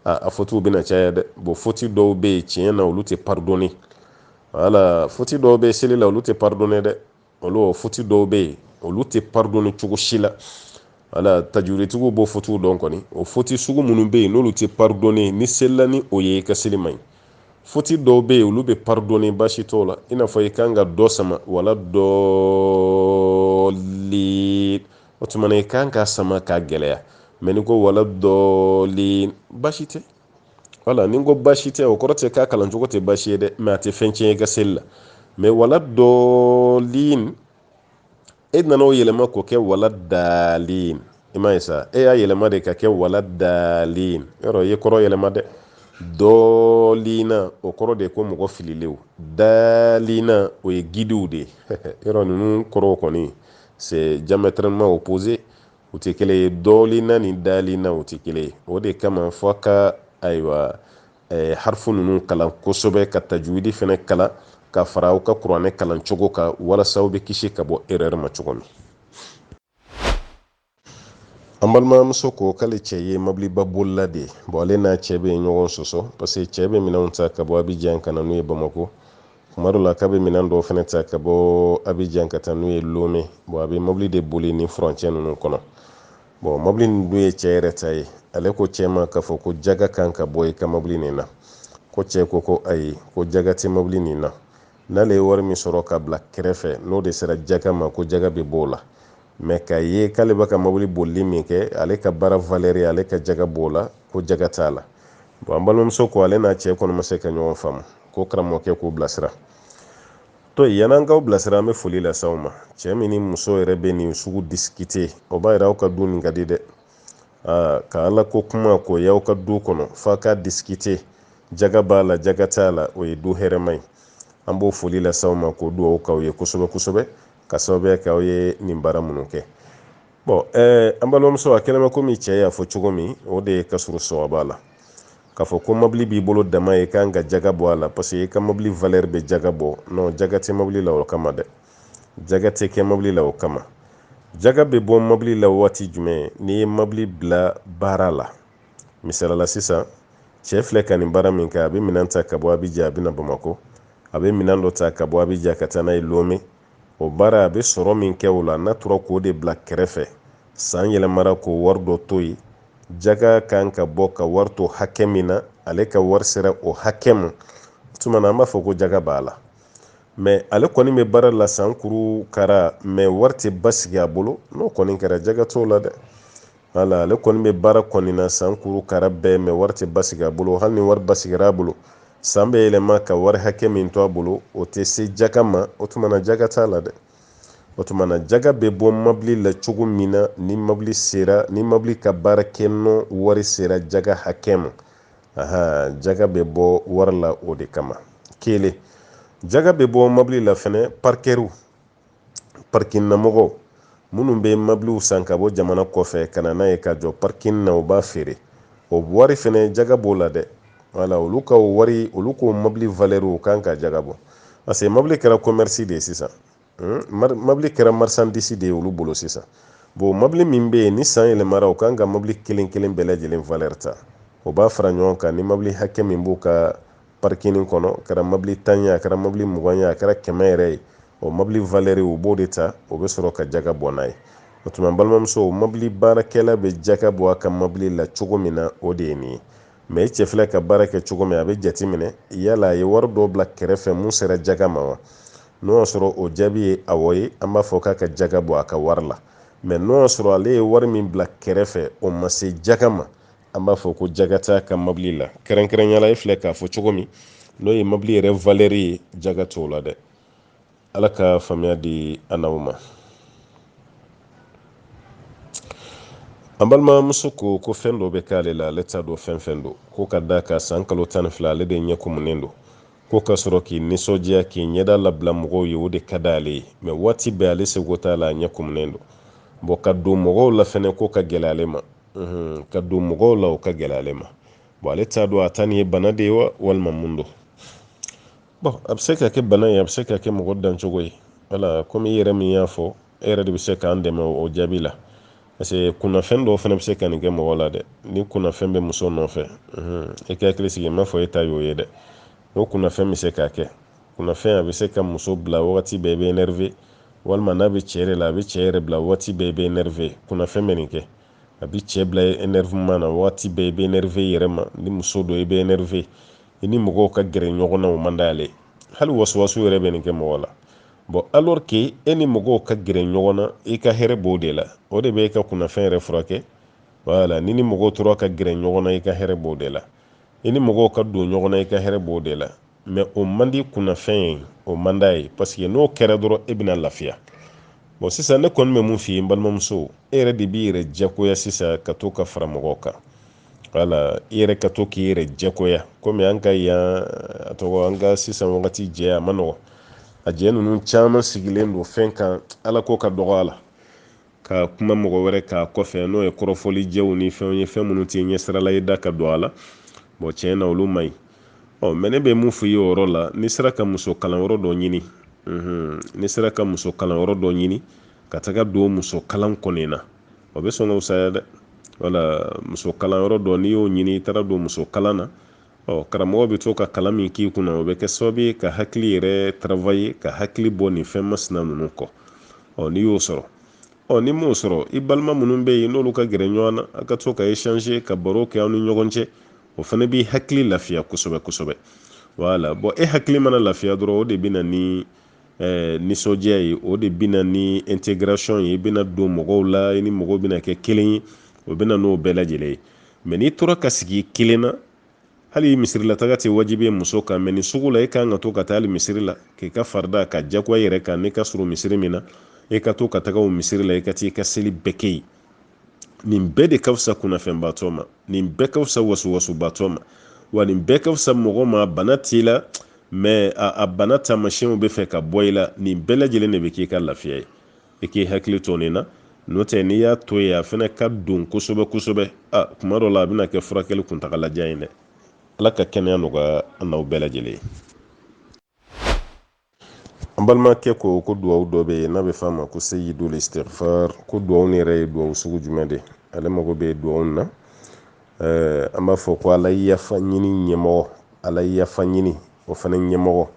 a fotiw bɛna caya dɛ bon foti dɔw bɛ yen tiɲɛ na olu tɛ paridɔni wala foti dɔw bɛ seli la olu tɛ paridɔni dɛ olu foti dɔw bɛ yen olu tɛ paridɔni cogo si la wala tajuwiditigiw b'o fotiw dɔn kɔni o foti sugu minnu bɛ yen n'olu tɛ paridɔni n'i selila ni o ye i ka seli man ɲi foti dɔw bɛ yen olu bɛ paridɔni basi t'o la i n'a fɔ i kan ka dɔ sama wala dɔɔli o tuma na i kan k'a sama k'a gɛlɛya mɛ n'i ko wala dɔɔli basi tɛ wala ni n ko basi tɛ o kɔrɔ tɛ k'a kalan cogo tɛ basi ye dɛ mɛ a tɛ fɛn tiɲɛ i ka seli la mɛ wala dɔɔli e nana o yɛlɛma k'o kɛ wala daalin i m'a ye sa e y'a yɛlɛma de ka kɛ wala daalin yɔrɔ i ye kɔrɔ yɛlɛma dɛ dɔɔlina o kɔrɔ de ye ko mɔgɔ fililenw daalina o ye gidiw de ye yɔrɔ ninnu kɔrɔw kɔni c'est diamétralement opposé u tɛ kelen ye dɔɔlina ni daalina u tɛ kelen ye o de kama fɔ ka ayiwa eh, harfu ninnu kalan kosɛbɛ ka tajwidi fɛnɛ kalan ka fara aw ka kuranɛ kalan cogo kan walasa aw bɛ kisi ka bɔ erreur ma cogo min an balimamuso ko k'ale cɛ ye mɔbiliba bolila de ye bon ale n'a cɛ bɛ ɲɔgɔn sɔsɔ parce que cɛ bɛ minɛnw ta ka bɔ abijan ka na n'u ye bamako tuma dɔ la k'a bɛ minɛn dɔw fɛnɛ ta ka bɔ abijan ka taa n'u ye lome bon a bɛ mɔbili de boli ni furancɛ ninnu kɔnɔ bon mɔbili nin dun ye cɛ yɛrɛ ta ye ale ko cɛ ma k'a fɔ ko jaga kan ka bɔ i ka mɔbili nin na ko cɛ ko ko ayi ko jaga tɛ mɔbili nin na n'ale ye wari min sɔrɔ ka bila kɛrɛfɛ n'o de sera jaga ma ko jaga bɛ b'o la mais k'a ye k'ale bɛ ka mɔbili bolili min kɛ ale ka baara valeur ale ka jaga b'o la ko jaga t'a la bon an balimamuso ko ale n'a cɛ kɔni ma se ka ɲɔgɔn faamu ko karamɔgɔkɛ k'u bilasira to yan an k'aw bilasira an bɛ foli lase aw ma cɛ min ni muso yɛrɛ bɛ nin sugu discuter o b'a yira aw ka du nin ka di dɛ ka ala ko kuma ko y'aw ka du kɔnɔ f'a ka discuter jaga b'a la jaga t'a la o ye du hɛrɛma ye an b'o foli lase aw ma k'o dugawu k'aw ye kosɛbɛ kosɛbɛ ka sababuya kɛ aw ye nin baara minnu kɛ bon eh, an balimamuso a kɛnɛma komi cɛ y'a fɔ cogo min o de ye ka surun sɔwaba la k'a fɔ ko mɔbili b'i bolo dama i kan ka jaga bɔ a la parce que i ka mɔbili valeur bɛ jaga bɔ non jaga tɛ mɔbili la o kama dɛ jaga tɛ kɛ mɔbili la o kama jaga bɛ bɔ mɔbili la waati jumɛn n'i ye mɔbili bila baara la misali la sisan cɛ filɛ ka nin baara min kɛ a bɛ minɛn ta ka bɔ abijan a bɛ na bamakɔ a bɛ minɛn dɔ ta ka bɔ abijan ka taa n'a ye lome o baara a bɛ sɔrɔ min kɛ o la n'a tora k'o de bila kɛrɛfɛ san yɛlɛmara k'o wari dɔ to yen jaga kan ka bɔ ka wari to hakɛ min na ale ka wari sera o hakɛ ma o tuma na an b'a fɔ ko jaga b'a la mais ale kɔni bɛ baara la san kuru kara mais wari tɛ basigi a bolo n'o kɔni kɛra jaga t'o la dɛ wala ale kɔni bɛ baara kɔni na san kuru kara bɛɛ mais wari tɛ basigi a bolo hali ni wari basigir'a bolo san bɛ yɛlɛma ka wari hakɛ min to a bolo o tɛ se jaga ma o tuma na jaga t'a la dɛ o tuma na jaga bɛ bɔ mabili la cogo min na ni mabili sera ni mabili ka baara kɛ nɔ wari sera jaga hakɛ ma aha jaga bɛ bɔ wari la o de kama kelen jaga bɛ bɔ mabili la fɛnɛ parikɛriw parking na mɔgɔw minnu bɛ mabiliw san ka bɔ jamana kɔfɛ ka na n'a ye ka jɔ parking na u b'a feere o wari fɛnɛ jaga b'o la dɛ wala olu ka o wari olu k'o mabili valeurw u kan ka jaga bɔ parce que mabili kɛra commerce de ye sisan hmm? mabili kɛra marchandise de ye olu bolo sisan bon mabili min bɛ yen ni san yɛlɛmara u kan ka mabili kelen kelen bɛɛ lajɛlen valeur ta o b'a fara ɲɔgɔn kan ni mabili hakɛ min b'u ka parikini kɔnɔ a kɛra mobili tan ye a kɛra mobili mugan ye a kɛra kɛmɛ yɛrɛ ye o mobili valɛri u b'o de ta o bɛ sɔrɔ ka jaga bɔ n'a ye o tuma balimamuso mobili baarakɛla bɛ jaga bɔ a ka mobili la cogo min na o de ye nin ye mɛ i cɛ filɛ ka baara kɛ cogo min a bɛ jate minɛ yala a ye wari dɔ bila kɛrɛfɛ mun sera jaga ma wa n'o y'a sɔrɔ o jaabi ye awɔ ye an b'a fɔ k'a ka jaga bɔ a ka wari la mɛ n'o y'a sɔrɔ ale ye wari min bila kɛrɛfɛ o ma se jaga ma an b'a fɔ ko jaga t'a ka mobili la kɛrɛnkɛrɛnyala e filɛ k'a fɔ cogo min n'o ye mobili yɛrɛ valɛri ye jaga t'o la dɛ ala ka faamuya di an n'aw ma an balimamuso ko ko fɛn dɔ bɛ k'ale la ale t'a dɔn fɛn fɛn don ko ka d'a kan san kalo tan ni fila ale de ɲɛ kumunen don ko ka sɔrɔ k'i nisɔndiya k'i ɲɛda labila mɔgɔw ye o de ka d'ale ye mɛ waati bɛɛ ale seko t'a la a ɲɛ kumunen don bɔn ka don mɔgɔw la fɛnɛ ko ka gɛlɛ ale ma ka don mɔgɔw la o ka gɛlɛ ale ma bɔn ale t'a dɔn a ta nin ye bana de ye wa walima mun don bɔn a bɛ se ka kɛ bana ye a bɛ se ka kɛ mɔgɔ dancogo ye wala komi i yɛrɛ min y'a fɔ e yɛrɛ de bɛ se k'an dɛmɛ o jaabi la parce que kunnafɛn dɔw fana bɛ se ka nin kɛ mɔgɔ la dɛ ni kunnafɛn bɛ muso nɔfɛ i ka hakili sigi n m'a fɔ e ta y'o ye dɛ o kunnafɛn bɛ se k'a kɛ kunnafɛn a bɛ se ka muso bila wagati bɛɛ i bɛ nɛrɛve walima n'a bɛ cɛ yɛrɛ la a bɛ cɛ yɛrɛ bila wagati bɛɛ i bɛ nɛrɛve kunnafɛn bɛ nin kɛ a bɛ cɛ bila énervement na wagati bɛɛ i bɛ nɛrɛve i yɛrɛ ma ni muso don i bɛ nɛrɛve i ni mɔgɔw ka gɛrɛ ɲɔgɔn na o man d'a ye hali wasuwasu yɛrɛ bɛ nin kɛ mɔgɔ la bɔn alors que e ni mɔgɔw ka gɛrɛ ɲɔgɔn na i ka hɛrɛ b'o de la o de bɛ e ka kunnafɛn yɛrɛ furakɛ wala n'i ni mɔgɔw tora ka gɛrɛ ɲɔgɔn na i ka hɛrɛ b'o de la i ni mɔgɔw ka don ɲɔgɔn na i ka hɛrɛ b'o de la mɛ o man di kunnafɛn ye o man d'a ye paseke n'o kɛra dɔrɔn e bɛna lafiya bɔn sisan ne kɔni bɛ mun f'i ye n balimamuso e yɛrɛ de b'i yɛrɛ diyagoya sisan ka to ka fara mɔgɔw kan wala i yɛrɛ ka to k'i yɛrɛ diyagoya komi an ka yan a tɔgɔ an ka sisan wagati jɛ a man nɔgɔ a jɛ ninnu caman sigilen don fɛn kan ala ko ka dɔgɔ a la ka kuma mɔgɔ wɛrɛ k'a kɔfɛ n'o ye kɔrɔfɔli jɛw ni fɛnw ye fɛn minnu t'i ɲɛsira la i da ka don a la bɔn tiɲɛ na olu man ɲi ɔ mɛ ne bɛ mun fɔ i ye o yɔrɔ la n'i sera ka muso kalanyɔrɔ dɔ ɲini n'i sera ka muso kalanyɔrɔ dɔ ɲini ka taga don muso kalan kɔni na o bɛ sɔn ka fusaya dɛ wala muso kalanyɔrɔ dɔ n'i y'o ɲini i taara don muso kalan na ɔ karamɔgɔ bɛ to ka kalan min k'i kunna o bɛ kɛ sababu ye ka hakili yɛrɛ travaye ka hakili bɔ nin fɛn masina ninnu kɔ ɔ n'i y'o sɔrɔ ɔ n'i m'o sɔrɔ i balima minnu bɛ yen n'olu ka gɛrɛ ɲɔgɔn na a ka to ka échanger ka baro kɛ aw ni ɲɔgɔn cɛ o fana b'i hakili lafiya kosɛbɛ kosɛbɛ wala bɔn e hakili mana lafiya dɔrɔn o de bɛ na ni eh, nisɔndiya ye o de bɛ na ni intégration ye i bɛna don mɔgɔw la i ni mɔgɔw bɛna kɛ kelen ye o bɛna n'o bɛɛ lajɛlen ye mɛ n'i tora ka sigi i kelen na hali misirilataga tɛ wajibi ye muso kan mɛ nin sugu la e kan ka to ka taa hali misiri la k'i ka farida ka jagoya i yɛrɛ kan n'i ka surun misiri min na e ka to ka taga o misiri la i ka t'i ka seli bɛɛ kɛ yen nin bɛɛ de ka fisa kunnafɛnbaatɔ ma nin bɛɛ ka fisa wasuwasubaatɔ ma wa nin bɛɛ ka fisa mɔgɔ ma bana t'i la mɛ a bana taamasiyɛnw bɛ fɛ ka bɔ i la nin bɛɛ lajɛlen de bɛ k'i ka lafiya ye i k'i hakili to nin na n'o tɛ n'i y'a to yen a fana ka don kosɛbɛ kosɛbɛ a kuma dɔ la a bɛna kɛ furakɛli kuntagalajan ye dɛ ala ka kɛnɛya nɔgɔya an n'aw bɛɛ lajɛlen ye an balimakɛ ko ko duwawu dɔ bɛ yen n'a bɛ f'a ma ko seyidul istighfar ko duwawu nin yɛrɛ ye duwawu sugu jumɛn de ale mago bɛ duwawu na an b'a fɔ ko ala yafa ɲini ɲɛmɔgɔ ala yafa ɲini o fana ɲɛmɔgɔ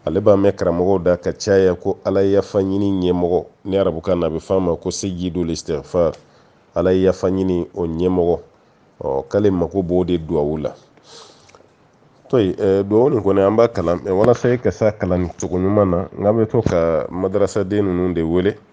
ale b'a mɛn karamɔgɔw da ka caya ko ala yafa ɲini ɲɛmɔgɔ ni arabukan na a bɛ f'a ma ko seyidul istighfar ala yafa ɲini o ɲɛmɔgɔ ɔ k'ale mago b'o de duwawu la to duwawu nin kɔni an b'a kalan walasa i ka s'a kalan cogo ɲuman na n bɛ to ka madarasaden ninnu de wele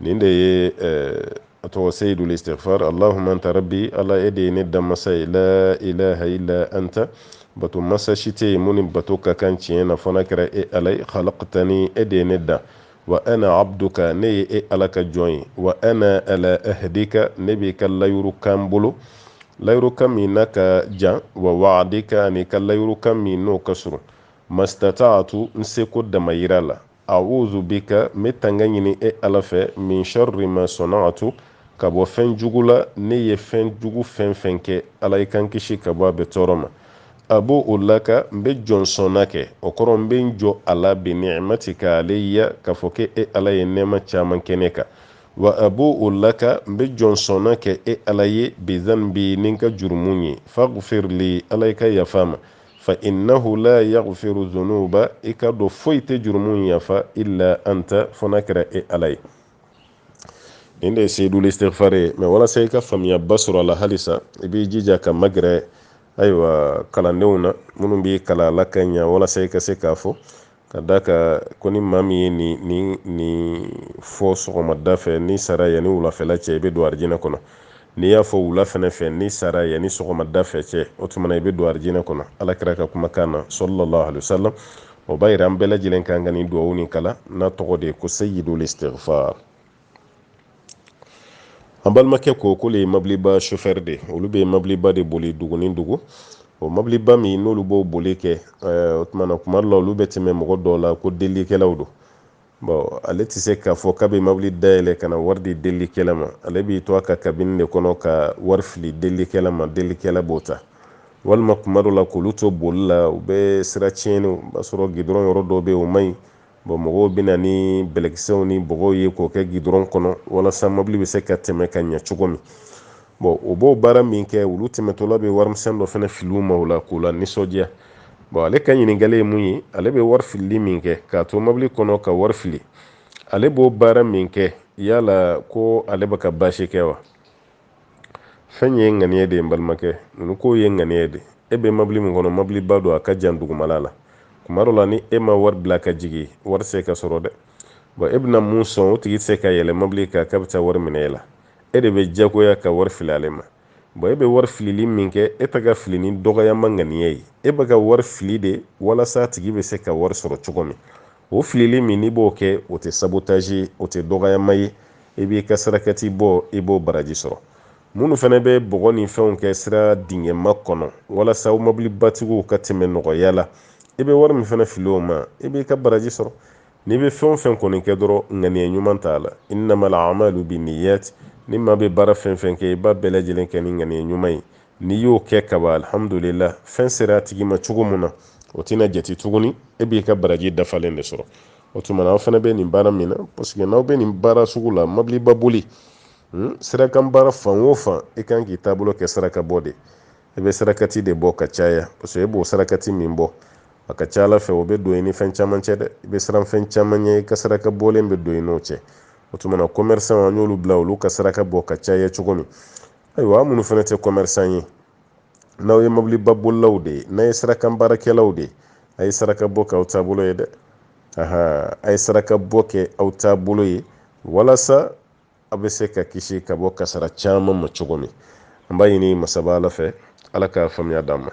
nin de ye a tɔgɔ seyidul istighfar allahumma anta rabbi ala e de ye ne danmasa ye la ilaha illa anta bato masa si tɛ yen min ni bato ka kan tiɲɛ na fo n'a kɛra e ala ye khalaqtani e de ye ne dan wa ana abduka ne ye e ala ka jɔn ye wa ana ala ahdika ne b'i ka layuru kan bolo layuru kan min n'a ka jan wa wa'adika an'i ka layuru kan min n'o ka surun mastata'atu n seko damayira la a'udhu bika n bɛ tanga ɲini e ala fɛ min sharri ma sana'tu ka bɔ fɛn jugu la ne ye fɛn jugu fɛn fɛn kɛ ala i ka n kisi ka bɔ a bɛɛ tɔɔrɔ ma abu'u laka n bɛ jɔnsɔnna kɛ o kɔrɔ n bɛ n jɔ a la bi ni'matika alayya k'a fɔ k'e e ala ye nɛɛma caman kɛ ne kan wa abu'u laka n bɛ jɔnsɔnna kɛ e ala ye bidhanbi ni n ka jurumu ye faghfir li ala i ka yafa n ma fa innahu la yaghfiru dhunuba i k'a dɔn foyi tɛ jurumu yafa illa anta fo n'a kɛra e ala ye nin de ye seyidul istighfar ye mɛ walasa i ka faamuyaba sɔrɔ a la halisa i b'i jija ka magɛrɛ ayiwa kalandenw na minnu b'i kalan a la ka ɲa walasa i ka se k'a fɔ ka d'a kan ko ni maa min ye nin nin nin fɔ sɔgɔmada fɛ n'i sara yanni wulafɛla cɛ i bɛ don arijinɛ kɔnɔ n'i y'a fɔ wula fɛnɛ fɛ n'i sara yanni sɔgɔmada fɛ cɛ o tuma na i bɛ don arijinɛ kɔnɔ ala kira ka kumakan na sallallahu alayhi wa sallam o b'a yira an bɛɛ lajɛlen k'an ka nin duwawu nin kalan n'a tɔgɔ de ye ko seyidul istighfar an balimakɛ ko k'olu ye mabiliba chauffeur de olu bɛ mabiliba de boli dugu ni dugu o mabiliba min n'olu b'o boli kɛ eh, o tuma na kuma dɔ la olu bɛ tɛmɛ mɔgɔ dɔw la ko delikɛlaw don bon ale tɛ se k'a fɔ k'a bɛ mabili dayɛlɛ ka na wari di delikɛla ma ale b'i to a ka kabini de kɔnɔ ka wari fili delikɛla ma delikɛla b'o ta walima kuma dɔ la k'olu to boli la u bɛ sira tiɲɛni o b'a sɔrɔ gidɔrɔn yɔrɔ dɔw bɛ yen o man ɲi bɔn mɔgɔw bɛ na ni bɛlɛkisɛw ni bɔgɔw ye k'o kɛ gidɔrɔn kɔnɔ walasa mɔbili bɛ se ka tɛmɛ ka ɲɛ cogo min bɔn o b'o baara min kɛ olu tɛmɛtɔla bɛ warimisɛn dɔ fana fili u ma o la k'u lanisɔndiya bɔn ale ka ɲininkali ye mun ye ale bɛ wari filili min kɛ k'a to mɔbili kɔnɔ ka wari fili ale b'o baara min kɛ yala ko ale bɛ ka baasi kɛ wa fɛn ye ŋaniya de ye n balimakɛ ninnu ko ye ŋaniya de e bɛ mabili min kɔnɔ mabiliba don a ka jan dugumala la kuma dɔ la ni e ma wari bila ka jigin wari tɛ se ka sɔrɔ dɛ bɔn e bɛna min sɔn o tigi tɛ se ka yɛlɛ mabili kan k'a bɛ taa wari minɛ e la e de bɛ jagoya ka wari fili ale ma bɔn e bɛ wari filili min kɛ e tɛ k'a fili ni dɔgɔyama ŋaniya ye e bɛ ka wari fili de walasa a tigi bɛ se ka wari sɔrɔ cogo min o filili min n'i b'o kɛ o tɛ sabotage ye o tɛ dɔgɔyama ye i b'i ka sarakati bɔ i b'o baraji sɔrɔ minnu fana bɛ bɔgɔ ni fɛnw kɛ sira dingɛma kɔnɔ walasa aw mabilibatigiw ka tɛmɛ nɔgɔya la i bɛ wari min fana fili u ma i b'i ka baraji sɔrɔ n'i bɛ fɛn o fɛn kɔni kɛ dɔrɔn ŋaniya ɲuman t'a la innamal a'malu binniyat ni maa bɛ baara fɛn fɛn kɛ i b'a bɛɛ lajɛlen kɛ ni ŋaniya ɲuman ye n'i y'o kɛ kaba alihamudulila fɛn sera a tigi ma cogo min na o tɛna jate tuguni e b'i ka baraji dafalen de sɔrɔ o tuma na aw fana bɛ nin baara min na parce que n'aw bɛ nin baara sugu la mɔbiliba boli hmm, sirakan baara fan o fan i kan k'i taabolo kɛ saraka bɔ de i bɛ sarakati de bɔ ka caya parce que e b'o sarakati min bɔ a ka ca ala fɛ o bɛ don i ni fɛn caman cɛ dɛ i bɛ siran fɛn caman ɲɛ i ka saraka bɔlen bɛ don i n'o cɛ o tuma na commerçant an y'olu bila olu ka saraka bɔ ka caya cogo min ayiwa aw minnu fana tɛ commerçant ye n'aw ye mabiliba bolilaw de ye n'a ye sirakan baarakɛlaw de ye a ye saraka bɔ k'aw taabolo ye dɛ a ye saraka bɔ kɛ aw taabolo ye walasa aw bɛ se ka kisi ka bɔ kasara caman ma cogo min an b'a ɲini masaba ala fɛ ala ka faamuya d'an ma